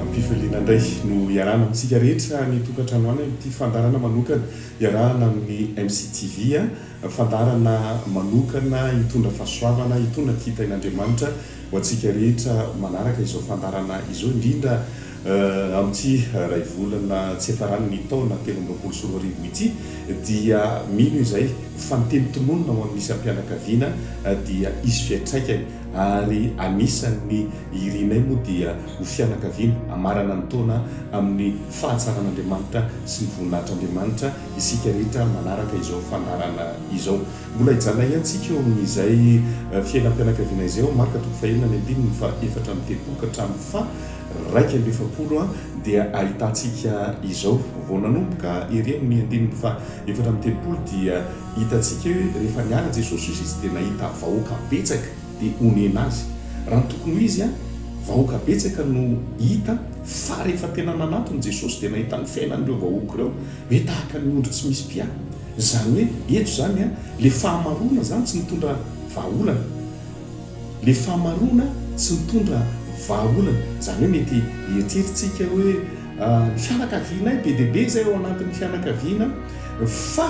Am-pifaliana indray no iarahana amintsika rehetra any an-tokantranoany amin'ity fandaharana manokana iarahana amin'ny MCTV, fandaharana manokana hitondra fahasoavana, hitondra kitain'Andriamanitra ho antsika rehetra manaraka izao fandaharana izao indrindra. Amin'ity iray volana tsy hiafaran'ny taona telo amby roapolo sy roa arivo ity dia mino izay fa ny teny tononina ao amin'ny isam-pianakaviana dia hisy fiantraikany ary anisan'ny irinay moa dia ho fianakaviana hamarana ny taona amin'ny fahatsaran'Andriamanitra sy ny voninahitr'Andriamanitra isika rehetra manaraka izao fandaharana izao mbola hijanona ihany tsika eo amin'izay fiainam-pianakaviana izay ao Marka toko fahenina ny andininy faha efatra amby telopolo ka hatramin'ny faha iraika amby efapolo dia ahitantsika izao. Vao nanomboka ery amin'ny andininy fahaefatra amby telopolo dia hitantsika hoe rehefa niala Jesosy osa izy dia nahita vahoaka betsaka dia honena azy. Raha ny tokony ho izy, vahoaka betsaka no hita fa rehefa tena nanatona Jesosy dia nahita ny fiainan'ireo vahoaka ireo hoe tahaka ny ondry tsy misy mpiahy. Izany hoe eto izany ilay fahamaroana izany tsy nitondra vahaolana. Ilay fahamaroana tsy mitondra vahaolana. Izany hoe mety hieritreritsika hoe ny fianakavianay be dia be izay ao anatin'ny fianakaviana fa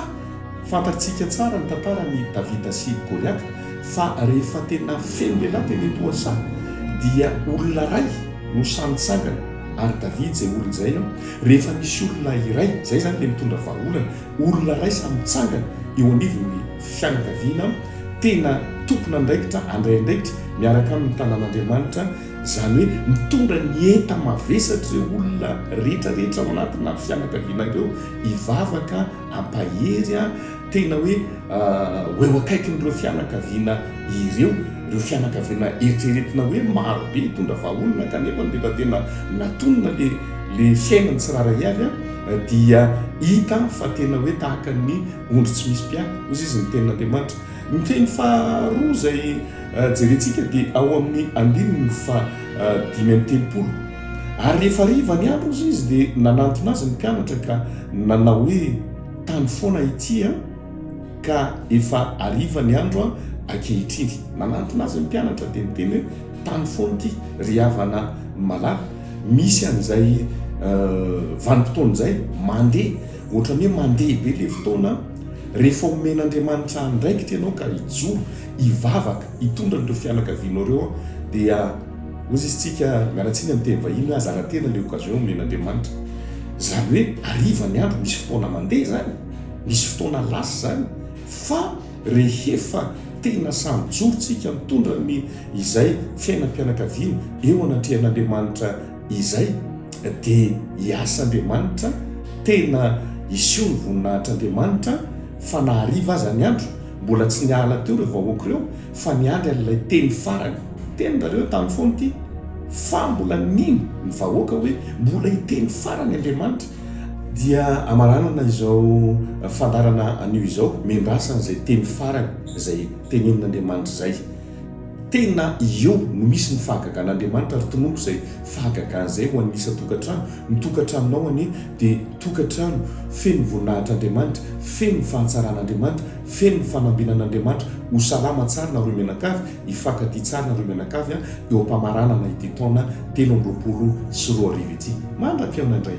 fantatrtsika tsara ny tantaran'i Davida sy Goliata fa rehefa tena feno lehilahy teny an-tohasa dia olona iray no samy nitsangana ary Davida izay olona izay rehefa misy olona iray izay izany dia mitondra vahaolana. Olona iray samy mitsangana eo anivon'ny fianakaviana tena tompon'andraikitra handray andraikitra miaraka amin'ny tanàn'Andriamanitra, izany hoe mitondra ny enta-mavesatr'ireo olona rehetrarehetra ao anatina fianakaviana ireo hivavaka ampahery tena hoe ho eo akaikin'ireo fianakaviana ireo, ireo fianakaviana eritreretina hoe marobe hitondra vahaolana kanefa ndefa tena natonina ilay ilay fiainany tsirairay avy. dia hita fa tena hoe tahaka ny ondry tsy misy mpiady, hoy izy ny tenin'Andriamanitra. Ny teny faharoa izay eh, jerentsika dia ao amin'ny andininy fa eh, dimy amby telopolo. Ary rehefa riva ny andro hoy izy dia nanantona azy ny mpianatra ka nanao hoe tany foana ity an, eh, ka efa ariva ny andro an, eh, ankehitriny. Nanantona azy ny mpianatra dia niteny hoe tany foana ity, ry havana malala. Misy an'izay vanim-potoana izay mandeha ohatran'ny hoe mandeha be ilay fotoana, rehefa omen'Andriamanitra andraikitra ianao ka hijoro, hivavaka, hitondra an'ireo fianakavianao ireo dia hozy isika miala tsiny amin'ny teny vahiny hoe hazara tena ilay occasion omen'Andriamanitra. Izany hoe hariva ny andro, misy fotoana mandeha izany, misy fotoana lasa izany fa. Rehefa tena samy joro tsika mitondra ny izay fiainam-pianakaviana eo anatrehan'Andriamanitra izay dia hiasa Andriamanitra, tena hiseho ny voninahitr'Andriamanitra fa na hariva aza ny andro, mbola tsy niala teo ireo vahoaka ireo fa niandry an'ilay teny farany. Teny nareo tamin'ny foana ity fa mbola nino ny vahoaka hoe mbola hiteny farany Andriamanitra Dia hamaranana izao fandaharana anio izao, miandrasana izay teny farany izay tenenin'Andriamanitra izay. Tena eo no misy ny fahagagan'Andriamanitra, ary tononiko izay fahagagana izay ho an'ny isan-tokantrano. Ny tokantranonao anie dia tokantrano feno voninahitr'Andriamanitra, feno ny fahatsaran'Andriamanitra, feno ny fanambinan'Andriamanitra, ho salama tsara nareo mianakavy, Hifankatia tsara ireo mianakavy eo am-pamaranana ity taona telo amby roapolo sy roa arivo ity. Mandra-pihaona indray!